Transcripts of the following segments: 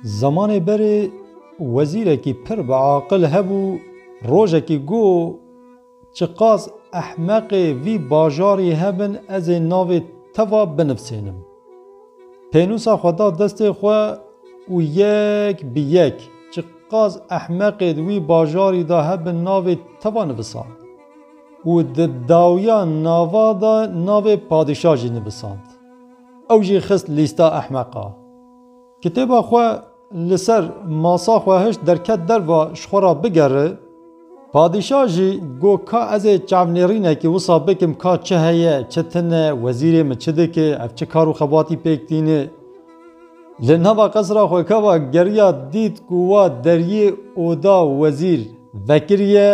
Zemanê berê wezîrekî pir bi aqil hebû rojekî got, Çiqas ehmeqê vî bajarî hebin ez ê navê te va binivsênim. Pênûsa xwe da destê xwe û yek bi yek çiqas ehmeqê di wî bajarî da hebin navê te va nivisand û di dawiya nava de navê padîşa jî nivisand. Ew jî xist lîsta ehmeqa. Kitêba xwe li ser masa xwe hişt derket derva ji xwe re bigere. Padîşa jî got ka ez ê çavnêrînekî wisa bikim ka çi heye, çi tine, wezîrê min çi dike, ev çi kar û xebatî pêk tîne. Li nava qesra xwe keva geriya dît ku wa deriyê oda wezîr vekiriye.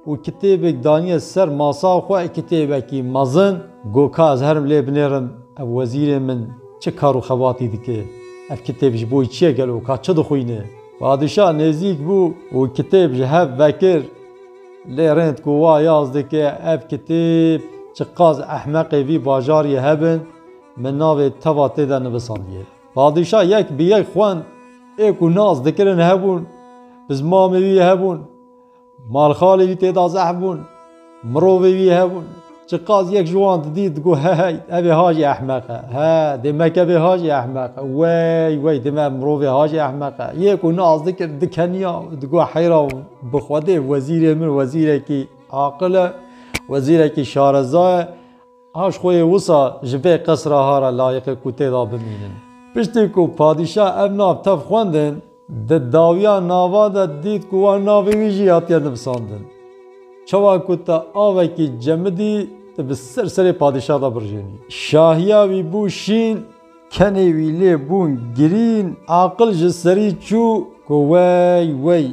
û kitêbek daniye ser masa xwe, kitêbekî mezin. Got ka ez herim lê binêrim ev wezîrê min çi kar û xebatî dike, ev kitêb ji bo çi ye gelo, ka çi dixwîne? Padîşah nêzîk bû û kitêb ji hev vekir. Lê rênd ku wa yaz dike ev kitêb çiqas ehmeqê vî bajariyê hebin, min navê teva tê de nivisandiye. Padîşah yek bi yek xwend, ê ku nas dikirin hebûn, bi zimamê wî hebûn. Malxalê wî tê da zehf bûn. Mirovê wî hebûn. Çiqas yek ji wan didît, digot hehey, evê ha jî ehmeq e. He, dê me ke vê ha jî ehmeq e. Wey, wey, dê me mirovê ha jî ehmeq e. Yê ku nas dikir, dikeniya û digot heyra wan, bi Xwedê wezîrê min wezîrekî aqil e, wezîrekî şareza ye. Aş xwe yê wisa ji vê qesra hara layiqê ku tê de bimînin. Piştî ku padîşah ev nav tev xwendin, di dawiya nava de dît ku wan navê wî jî hatiye nivisandin. Çawa ku te avekî cemidî, tu bi ser serê padîşah de birijênî. Şahiya wî bû şîn, kenê wî lê bûn girîn. Aqil ji serî çû ku wey, wey.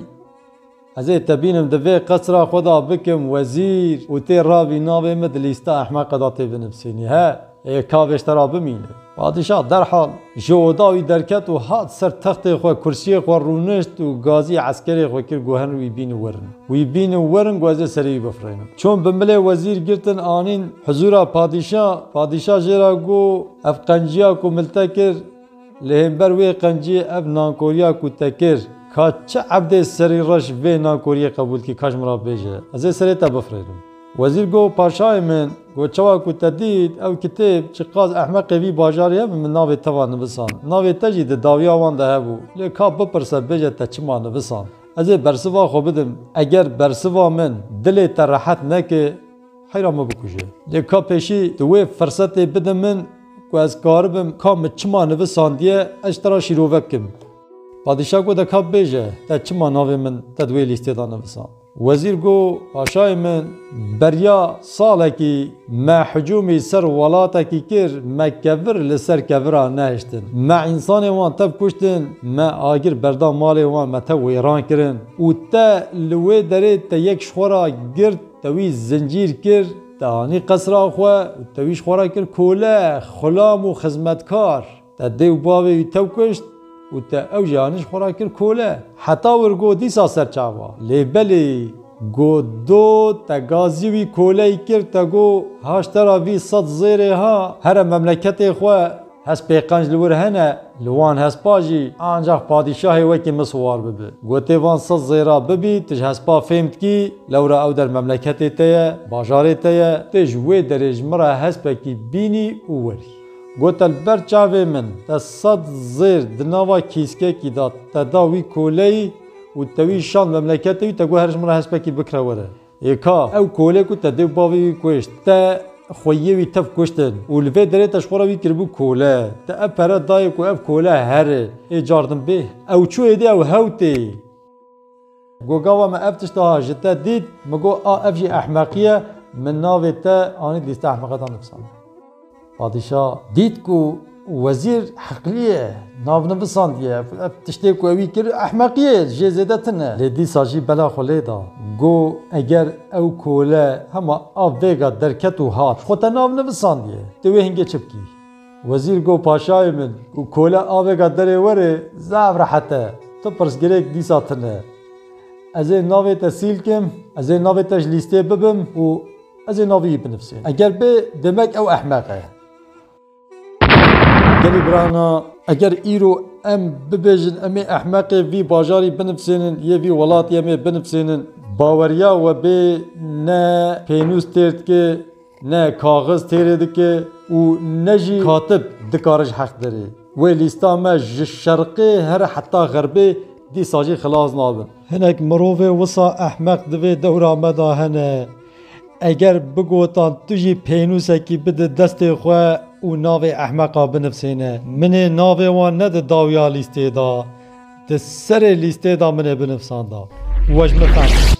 Ez ê tebînim divê qesra xwe de bikim wezîr û tê re vî navê min di lîsta ehmeqe de tê binivsînî he ê kavêj te re bimîne. Padîşah derhal ji oda wî derket û hat ser textê xwe kursiyê xwe rûnişt û gazî eskerê xwe kir ku herin wî bînin werin. Wî bînin werin ku ez ê serê wî bifirînim. Çûn bi milê wezîr girtin anîn hizûra padîşah. Padîşah jê re got, Ev qenciya ku mil te kir, Li hember wê qencî ev nankoriya ku te kir, ka çi ebdê serî reş vê nankoriyê qebûl kî ka ji min re bêje, ez ê serê te bifirênim. Wezîr got, Paşayê min, got çawa ku te dît ew kitêb, çi qas ehmeqê vî bajarî hebe min navê te va nivisand. Navê te jî di dawiya wan de hebû. Lê ka bipirse bêje te çima nivisand. Ez ê bersiva xwe bidim. Eger bersiva min dilê te rehet neke. Heyra min bikuje. Lê ka pêşî tu wê firsetê bide min ku ez karibim ka min çima nivisandiye ez ji te re şîrove bikim. Padîşah got, Ka bêje te çima navê min te di wê lîstê de nivisand? Wezîr got, Paşayê min beriya salekî me hicûmî ser welatekî kir, me kevir li ser kevira nehiştin. Me însanên wan tev kuştin, me agir berda malê wan me tev wêran kirin û te li wê derê te yek ji xwe re girt, Te wî zincîr kir, te anî qesra xwe û te wî ji xwe re kir kole, xulam û xizmetkar. Te dê û bavê wî tew kuşt û te ew jî anî ji xwe re kir kole. Heta wir got dîsa ser çawa? Lê belê, got do, te gazî wî koleyî kir, te got, Haştera vî sed zêrê ha, here memleketê xwe. Hespê qenc li wir hene, li wan hespa jî, ancax padîşahê wekî min siwar bibi. Gotê van sed zêra bibî, tu ji hespa fêm dikî, lewra ew der memleketê te ye, bajarê te ye, tu ji wê derê ji min re hespekî bînî û werî. Gote li ber çavê min, te sed zêr di nava kîskekî de te da wî koleyî û te wî şand memleketê wî, te got her ji min re hespekî bikire were. Ê ka, ew kolê ku te dê û bavê wî kuşt, te xweyiyê wî tev kuştin û li vê derê te ji xwe re wî kiribû kole. Te ev pere dayê ku ev kole here. Ê car din bê. Ew çû êdî ew hew tê. Got gava me ev tişt a ji te dît, min got a ev jî ehmeqiye, min navê te anî lîste ehmeqetan nifisandin. Padîşa dît ku wezîr heqlî ye, navnivisandiye, ev tiştê ku wî kir ehmeqî ye, ji jê zêde tin e. Lê dîsa jî bela xwe lê da, got, Eger ew kole hema av vêga derket û hat, xwe te navnivisandiye, tu wê hingê çi bikî? Wezîr got, Paşayê min, ku kole a vêga derê werê, zaf rehet e, tu pirsgirêk dîsa tune. Ez ê navê te sîl kim, ez ê navê te ji lîstê bibim û. Ez ê navê wî binivsînim. Eger bi demek ew ehmeq e. Gelê birana eger îro em bibêjin em ê ehmeqê vî bajarî binivsînin yê vî welatî em ê binivsînin baweriya we bê ne pênûs têr dike ne kaxiz têrê dike û ne jî katib dikare ji heq derê. Wê lîsta me ji şerqê here heta xerbê dîsa jî xilas nabin. Hinek mirovê wisa ehmeq di vê dewra me de hene. Eger bigotan tu jî pênûsekî bide destê xwe û navê ehmeqa binivsêne. Min ê navê wan ne di dawiya lîstê de, di serê lîstê de min ê binivsanda. We ji min fehm kir.